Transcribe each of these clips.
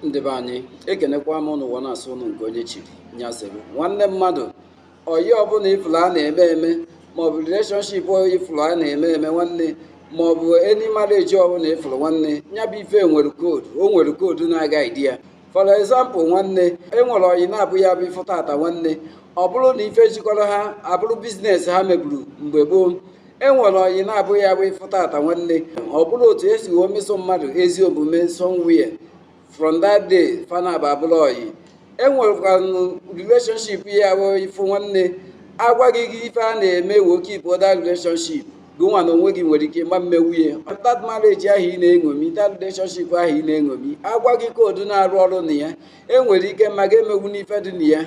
ndị be anyị ekenekwa m ụnụ ụwa na-asụ ụnụ nke onye chiri ya zere nwanne mmadụ ọyị ọbụla ị fụlụ a na-eme eme maọbụ relationship ị fụlụ a na-eme eme nwanne maọbụ any marriage ọbụla ị fụlụ nwanne ya bụ ife nwere code o nwere code na-aguide ya for example nwanne enwere ọyị na-abụ ya bụ ị fụ tata nwanne ọ bụrụ na ife jikọrọ ha abụrụ business ha meburu mgbe gboo e nwere ọyị na-abụ ya bụ ị fụ tata nwanne ọ bụrụ otu esi wee meso mmadụ ezi omume somewhere from that day fa naabọ abụrụ ọyị e nwerekwanụ relationship ya bụ ị fụ nwanne a gwa gị ife a na-eme wee keep that relationship gị nwa na onwe gị nwere ike ma mmenwu ya that marriage ahụ ị na-eṅomi that relationship ahụ ị na-eṅomi a gwa gị code na-arụ ọrụ na ya enwere ike ma ga-emenwu ife dị na ya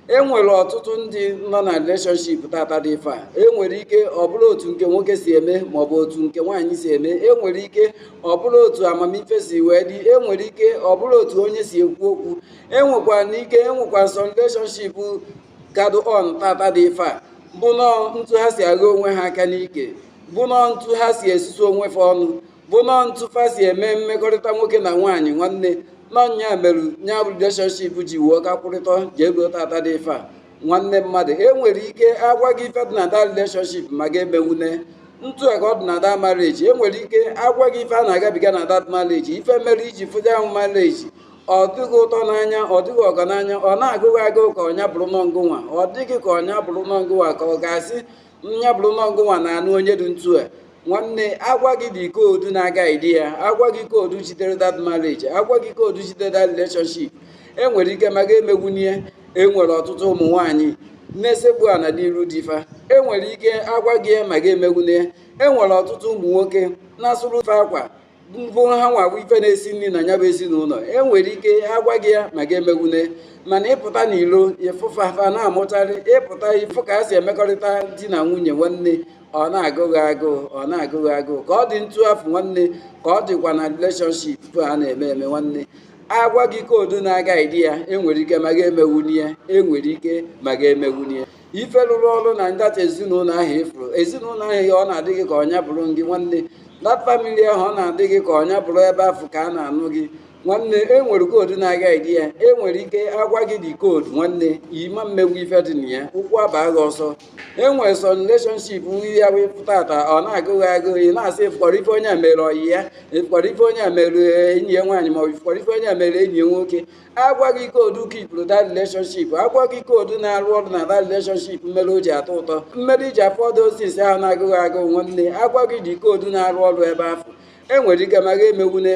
e nwere ọtụtụ ndị nọ na relationship tata dị ife a e nwere ike ọ bụrụ otu nke nwoke si eme maọbụ otu nke nwaanyị si eme e nwere ike ọ bụrụ otu amamife si wee dị e nwere ike ọ bụrụ otu onye si ekwu okwu e nwekwara ike e nwekwara some relationship ka dụ on tata dị ife a bụ nọọ ntu ha si agha onwe ha aka n'ike bụ nọọ ntu ha si esusu onwe fa ọnụ bụ nọọ ntu fa si eme mmekọrịta nwoke na nwaanyị nwanne na ọ nya mere nya bụ relationship ji wee ka kwụrịta ji ego tata dị ife a nwanne mmadụ e nwere ike a gwa gị ife dị na that relationship ma ga-emenwu nya ntu a ka ọ dị na that marriage e nwere ike a gwa gị ife a na-agabiga na that marriage ife mere i ji fụ that marriage ọ dị gị ụtọ n'anya ọ dị gị ọgọ n'anya ọ na-agụ gị agụụ ka ọ nya bụrụ nọọ ngụnwa ọ dị gị ka ọ nya bụrụ nọọ ngụnwa ka ọ ga-asị nya bụrụ nọọ gụnwa na-anụ onye dị ntu a nwanne a gwa gị the code na-aguide ya a gwa gị code jidere that marriage a gwa gị code jidere that relationship enwere ike ma ga-emenwu nya enwere ọtụtụ ụmụ nwaanyị na-esekpu ana n'iru di fa enwere ike a gwa gị ma ga-emenwu nya enwere ọtụtụ ụmụ nwoke na-asụrụ wife akwa ọ bụrụ hanwa bụ ife na-esi nri na ya bụ ezinụlọ e nwere ike a gwa gị ya ma ga-emenwu nya mana ị pụta n'ilo ị fụ fa fa na-amụcharị ị pụta ị fụ ka ha si emekọrịta di na nwunye nwanne ọ na-agụ gị agụụ ọ na-agụ gị agụụ ka ọ dị ntu afụ nwanne ka ọ dịkwa na relationship a na-eme eme nwanne a gwa gị code na-aguide ya enwere ike ma ga-emenwu nya enwere ike ma ga-emenwu nya ife lụrụ ọrụ na that ezinụlọ ahụ ị fụrụ ezinụlọ ahụ ọ na-adị gị ka ọ nya bụrụ gị nwanne that family ahụ ọ na-adị gị ka ọ nya bụrụ ebe afụ ka a na-anụ gị nwanne e nwere code na-aguide ya e nwere ike a gwa gị the code nwanne ị ma mmenwu ife dị na ya ụkwụ abaa gị ọsọ e nwere some relationship nri ya wee pụta tata ọ na-agụ gị agụụ ị na-asị ị fụkwara ife onye a mere ọyị ya ị fụkwara ife onye a mere enyi ya nwaanyị ma ọ bụ ị fụkwara ife onye a mere enyi ya nwoke agwa gị code kipụrụ that relationship agwa gị code na-arụ ọrụ na that relationship mere o ji atọ ụtọ mere i ji afọ ọdụ osisi ahụ na-agụghị agụ nwanne agwa gị the code na-arụ ọrụ ebe afụ enwere ike ma gị emewune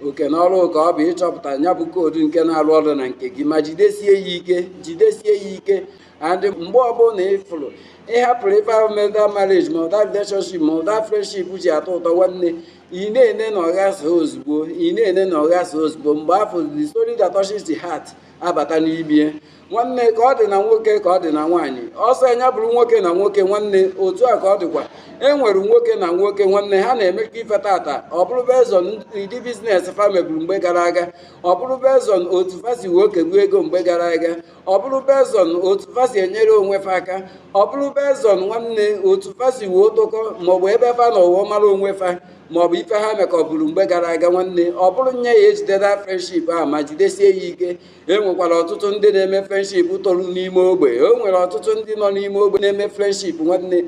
oke na ọrụ ka ọ bụ ịchọpụta ya bụ code nke na-arụ ọrụ na nke gị ma jidesie ya ike jidesie ya ike and mgbe ọbụla ị fụrụ ị hapụrụ ife ahụ mere that marriage ma ọ that relationship ma ọ that friendship ji atọ ụtọ nwanne ị na-ene na ọ ghasa ozugbo ị na-ene na ọ ghasa ozugbo mgbe afụ the story that touches the heart abata n'ibie nwanne ka ọ dị na nwoke ka ọ dị na nwaanyị ọ sọ nya bụrụ nwoke na nwoke nwanne otu a ka ọ dịkwa e nwere nwoke na nwoke nwanne ha na-emekọ ife tata ọ bụrụ based on ụdị business fa meburu mgbe gara aga ọ bụrụ based on otu fa si wee kebu ego mgbe gara aga ọ bụrụ based on otu fa si enyere onwe fa aka ọ bụrụ based on nwanne otu fa si wee tokọ maọbụ ebe fa nọ wee mara onwe fa maọbụ ife ha mekọburu mgbe gara aga nwanne ọ bụrụ nya ejide that friendship a ma jidesie ya ike e nwekwara ọtụtụ ndị na-eme friendship toro n'ime ogbe o nwere ọtụtụ ndị nọ n'ime ogbe na-eme friendship nwanne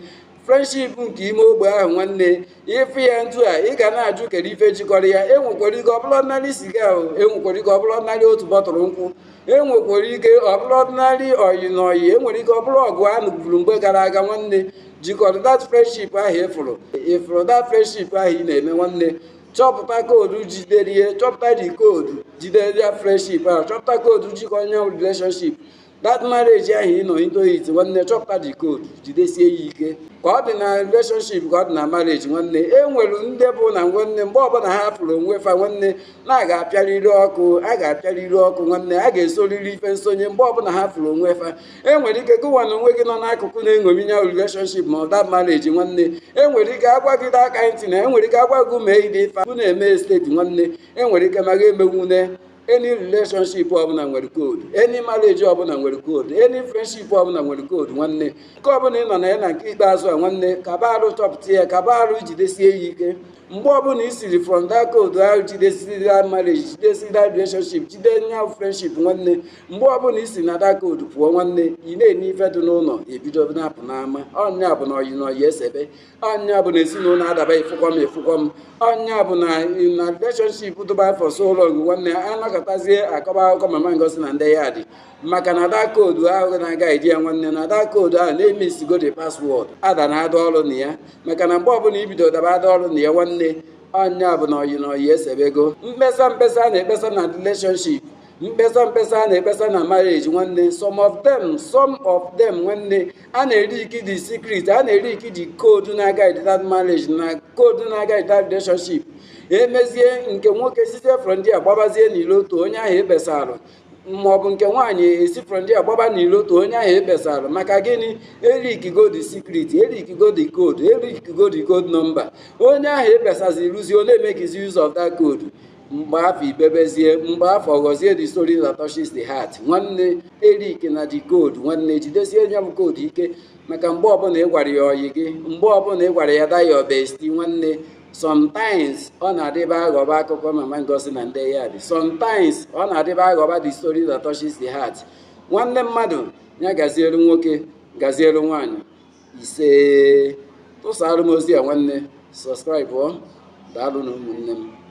friendship nke ime ogbe ahụ nwanne ị fụ ya ntu a ị ga na-ajụ kedu ife jikọrọ ya enwekwara ike ọ bụrụ ordinary siga ahụ enwekwara ike ọ bụrụ ordinary otu bottle nkwụ enwekwara ike ọ bụrụ ordinary ọyị na ọyị enwere ike ọ bụrụ ọgụ a nụburu mgbe gara aga nwanne jikọrọ that friendship ahụ ị fụrụ ị fụrụ that friendship ahụ ị na-eme nwanne chọpụta code jidere ihe chọpụta the code jidere nya friendship ahụ chọpụta code jikọ nya relationship that marriage ahụ ị nọ into it nwanne chọpụta the code jidesie ya ike ka ọ dị na relationship ka ọ dị na marriage nwanne e nwere ndị bụ na nwanne mgbe ọbụla ha fụrụ onwe fa nwanne na a ga-apịarịrị ọkụ a ga-apịarịrị ọkụ nwanne a ga-esoriri ife nsonye mgbe ọbụla ha fụrụ onwe fa e nwere ike gụwa na onwe gị nọ n'akụkụ na-eṅomi nya relationship ma ọ that marriage nwanne e nwere ike agwa gị aka ntị na e nwere ike agwa gị mee ụdị ife bụ na-eme esteti nwanne e nwere ike ma gị emewune any relationship ọbụla nwere code any marriage ọbụla nwere code any friendship ọbụla nwere code nwanne nke ọbụla ị nọ na ya na nke ikpeazụ a nwanne kaba arụ chọpụta ya kaba arụ jidesie ya ike mgbe ọbụla i siri from that code ahụ jidesiri that marriage jidesiri that relationship jide nya friendship nwanne mgbe ọbụla i si na that code pụọ nwanne ị na-ene ife dị n'ụlọ ebido na-apụ n'ama ọ nya bụ na ọyị na ọyị esebe ọ nya bụ na ezinụlọ adaba efukwa m efukwa m ọ nya bụ na na relationship dụba for so long nwanne ya anakọtazie akọba akụkọ mama ngozi na ndị ya dị maka na that code ahụ na-aga eji ya nwanne na that code ahụ na-eme isigo the password ada na ada ọrụ na ya maka na mgbe ọbụla i bido daba ada ọrụ na ya nwanne ọ nya bụ na ọyị na ọyị esebego mkpesa mkpesa a na-ekpesa na relationship mkpesa mkpesa a na-ekpesa na marriage nwanne some of them some of them nwanne a na-eleak the secret a na-eleak the code na-aguide that marriage na code na-aguide that relationship emezie nke nwoke site from there gbabazie n'ilo otu onye ahụ ekpesara ma ọ bụ nke nwaanyị esi from there gbaba n'ilo otu onye ahụ ekpesara maka gịnị eleakigo the secret eleakigo the code eleakigo the code nọmba onye ahụ ekpesazi ruzie ọ na-emekizi use of that code mgbe afụ i bebezie mgbe afụ ọ ghọzie the story that touches the heart nwanne eleakna the code nwanne jidesie nya bụ code ike maka mgbe ọbụla ị gwara ya ọyị gị mgbe ọbụla ị gwara ya that your bestie nwanne sometimes ọ na-adịba aghọba akụkọ mama ngozi na ndị yard sometimes ọ na-adịba aghọba the story that touches the heart nwanne mmadụ ya gazielu nwoke gazielu nwaanyị ise tụsara m ozi a nwanne subscribe daalụnụ ụmụnne m